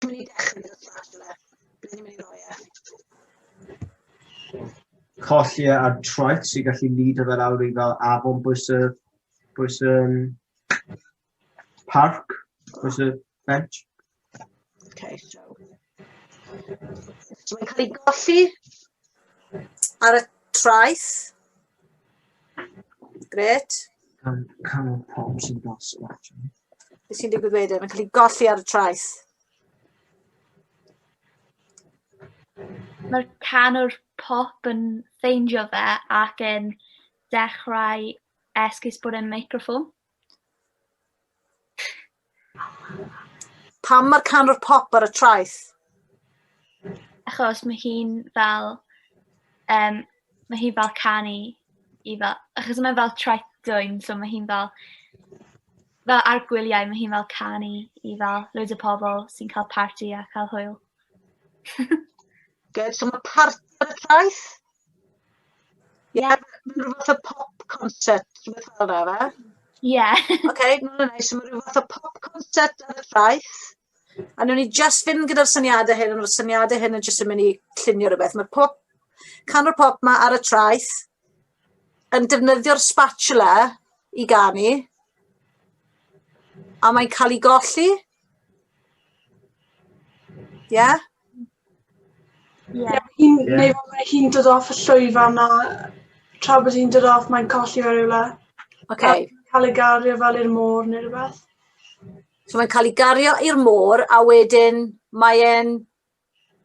Dwi'n mynd i dechrau gyda Flash yna. Bydd ni'n mynd i roi e. Colli e ar troet sy'n gallu nid o fel awr i fel afon bwys y, bwys y um, parc, bwys y bench. Okay, so. So mae'n cael ei golli ar y traeth. Gret. Gan cael pawb sy'n dos o allan. Beth sy'n digwydd wedyn? Mae'n cael ei golli ar y traeth. Mae'r canwr pop yn ffeindio fe ac yn dechrau esgus bod e'n microffon. Pam mae'r canwr pop ar y traeth? Achos mae hi'n fel, um, mae hi'n fel canu i fel, achos mae'n fel traeth dwyn, so mae hi'n fel, fel ar gwyliau, mae hi'n fel canu i fel loads o pobl sy'n cael party a cael hwyl. Good, so mae parti ar y traeth? Ie, yeah, rhyw fath o pop concert, rhywbeth fel yna, fe? Ie. Yeah. OK, no, no, no, so mae rhyw fath o pop concert ar y traeth. A nhw'n ni just fynd gyda'r syniadau hyn, ond mae'r syniadau hyn yn just yn mynd i llunio rhywbeth. Mae pop, canwr pop ma ar y traeth yn defnyddio'r spatula i ganu, a mae'n cael ei golli. Ie? Yeah? Ie. Ie. Hi'n Ie. neu ma' hi'n dod off y llwyfan a tra bod hi'n dod off mae'n colli fe rywle. Oce. A ca'l ei gario fel i'r môr ne' rwbeth. So mae'n ca'l 'i gario i'r môr a wedyn mae e'n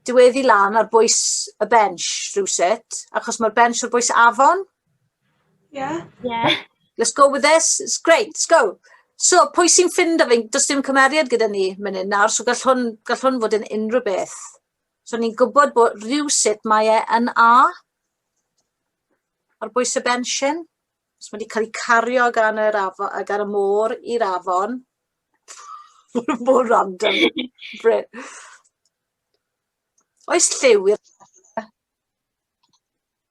diweddu lan ar bwys y bench rywsut achos ma'r bench ar bwys afon? Yeah? Yeah. Let's go with this. It's great. Let's go. So, pwy sy'n ffind o fi? Does dim cymeriad gyda ni mynd yn nawr, so gall hwn, gall hwn fod yn unrhyw beth. So, ni'n gwybod bod rhyw sut mae e yn A. Ar bwys y bensiwn. So, mae wedi cael ei cario gan, yr afo, gan y môr i'r afon. Mor random. Oes lliw i'r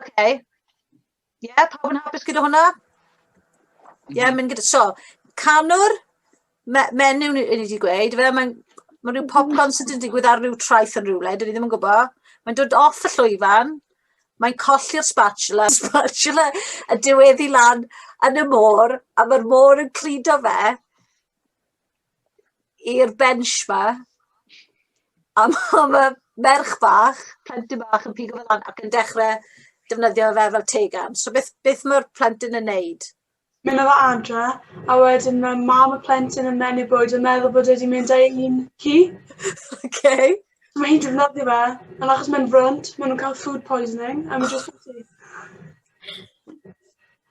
Okay. Ie, yeah, pawb yn hapus gyda hwnna? Ie, yeah, mynd gyda... So, canwr, me menyw ni wedi gweud, fe, mae'n ma rhyw popcorn sydd wedi digwydd ar rhyw traeth yn rhywle, dyn ni ddim yn gwybod. Mae'n dod off y llwyfan, mae'n colli'r spatula, spatula y diweddi lan yn y môr, a mae'r môr yn cludo fe, i'r bench ma. A ma' ma' merch bach, plentyn bach yn pigo fe lan ac yn dechre defnyddio fe fel tegan. So beth beth ma'r plentyn yn neud? Mynd â fe adre a wedyn ma' mam y plentyn yn menyw bwyd yn meddwl bod e 'di mynd â'i un ci. Oce. So ma' hi'n defnyddio fe, ond achos mae'n frwnt, ma' nw'n ca'l food poisoning a ma' jyst yn syth.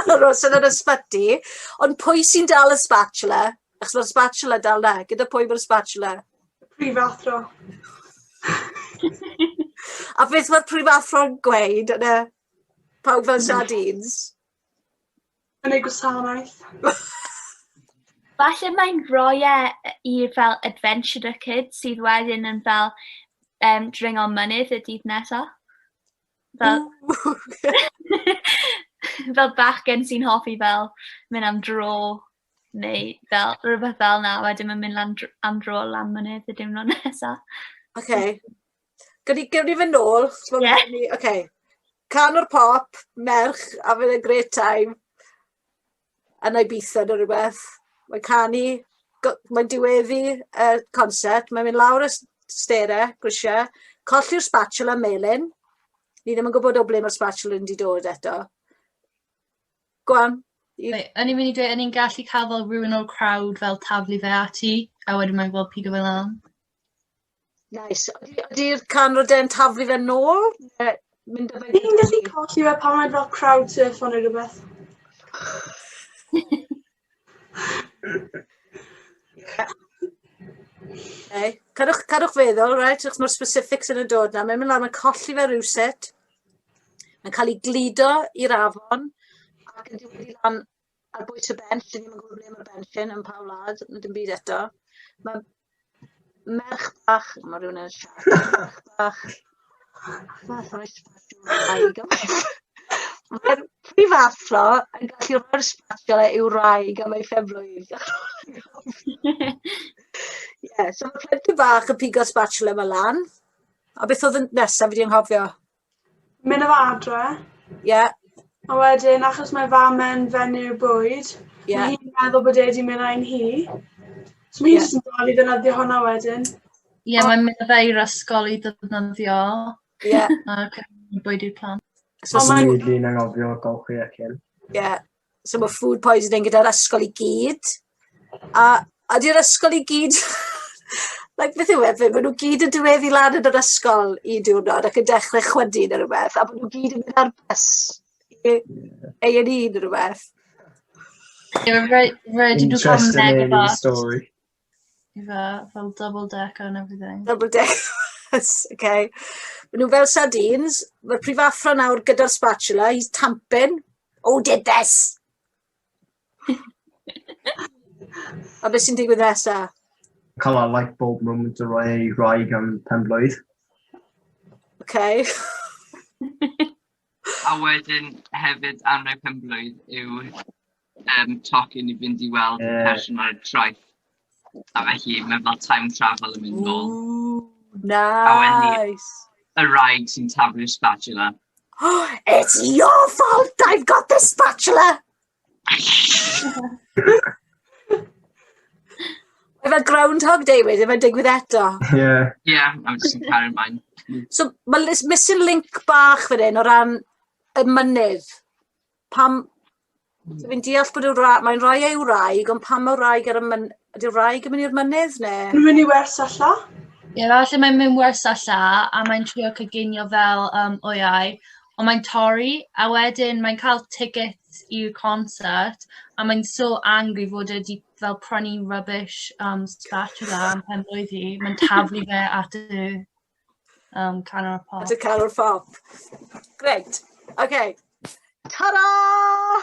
aros yn yr ysbyty, ond pwy sy'n dal y spatula? Achos mae'r spatula dal na, gyda pwy mae'r spatula? Prifathro. A beth mae'r prifathro'n gweud yn y pawb fel sardines? Yn ei gwasanaeth. Falle mae'n rhoi e i fel adventurer kid sydd wedyn yn fel um, dringo mynydd y dydd nesaf. Fel... fel bachgen sy'n hoffi fel mynd am dro neu fel rywbeth fel 'na, wedyn ma'n mynd lan dr- am dro lan mynydd y diwrnod nesa. Oce. Gawn ni gawn ni fyn' nôl t'mo'... Ie. ...ni oce. Canwr pop, merch, having a great time. yn Ibiza ne' rwbeth mae'n canu go- mae'n diweddu y concert mae'n mynd lawr y s- stair e grisia colli'r spatula melyn ni ddim yn gwbod o ble ma'r spatula 'di dod eto. Go on. Reit o'n i'n mynd i deu' o'n i'n gallu ca'l fel rywun o'r crowd fel taflu fe ati a wedyn mae'n fel pigo fe lan? Neis. Odi odi'r canwr de'n taflu fe nôl? Ne mynd â fe... Fi'n gallu colli fe pan mae'n fel crowd surfo neu rwbeth. Okay. Cadwch, cadwch feddwl, right, achos mae'r specifics yn y dod na. Mae'n mynd lan, mae'n colli fe rhywset. Mae'n cael ei gludo i'r afon ac yn dod i lan ar bwys y bench, dyn ni'n gwybod ble mae'r bench yn, yn pa wlad, na dim byd eto. Mae merch bach, mae rhywun yn siarad, merch bach, fath o'r sbatiwraig, mae'r prifathro yn gallu rhoi'r sbatiol e i'w raig am ei ffefrwydd. Ie, so mae plentyn bach yn pigo sbatiwla e yma lan, a beth oedd y nesaf fi wedi anghofio? Mynd o adre. Ie. A wedyn achos mae fam yn fenyw bwyd, yeah. mae hi'n meddwl bod e wedi mynd ein hi. So mae hi'n yeah. jyst yn dal i ddefnyddio hwnna wedyn. Ie, yeah, mae'n mynd o fe i'r ysgol i ddefnyddio. Ie. Yeah. A bwyd i'r plant. So, so mae'n... Mae'n anghofio golchi ac yn. Ie. so ma' food poisoning gyda'r ysgol i gyd, a ydi'r ysgol i gyd like beth yw e fe- ma' nw gyd yn diweddu lan yn yr ysgol un diwrnod ac yn dechre chwydu ne' rwbeth a bo' nw gyd yn mynd ar bus i Ay an' Ee ne' rwbeth. Ie rei- rei- dwi 'di ca'l mynegion bach. Interesting story. Ife, fel double decker and everything. Double deck. okay. Mae nhw fel sardines. Mae'r prifathro nawr gyda'r spatula. He's tamping. Oh, did this! A beth sy'n digwydd nesa? Cael a light bulb moment o roi ei roi gan pen blwydd. Okay. a wedyn hefyd anrheg pen blwydd yw um, tocyn i fynd i weld y yeah. person ar y traeth. A felly, mae'n fel time travel yn mynd nôl. Nice! A y rhaid sy'n taflu'r spatula. Oh, it's your fault I've got the spatula! Efe Groundhog Day wedyn, mae'n digwydd eto. Ie. Yeah. Ie, yeah, I'm just yn cael ymlaen. So, mae missing link bach fan hyn o ran y mynydd. Pam... Dw i'n deall bod y wra- mae'n rhai ei wraig, ond pam y wraig ar y myn- ydy'r wraig yn mynd i'r mynydd ne'? Mae'n mynd i wers a lla. Ie, falle mae'n mynd wers a lla, a mae'n trio coginio fel, yym, wyau, ond mae'n torri, a wedyn mae'n cael tickets i'r concert, a mae'n so angry fod e 'di fel prynu rubbish, yym, spatula am pen-blwydd hi, mae'n taflu fe at y... Um, canol y pop. At y canol y pop. Great. Okay. Ta-da!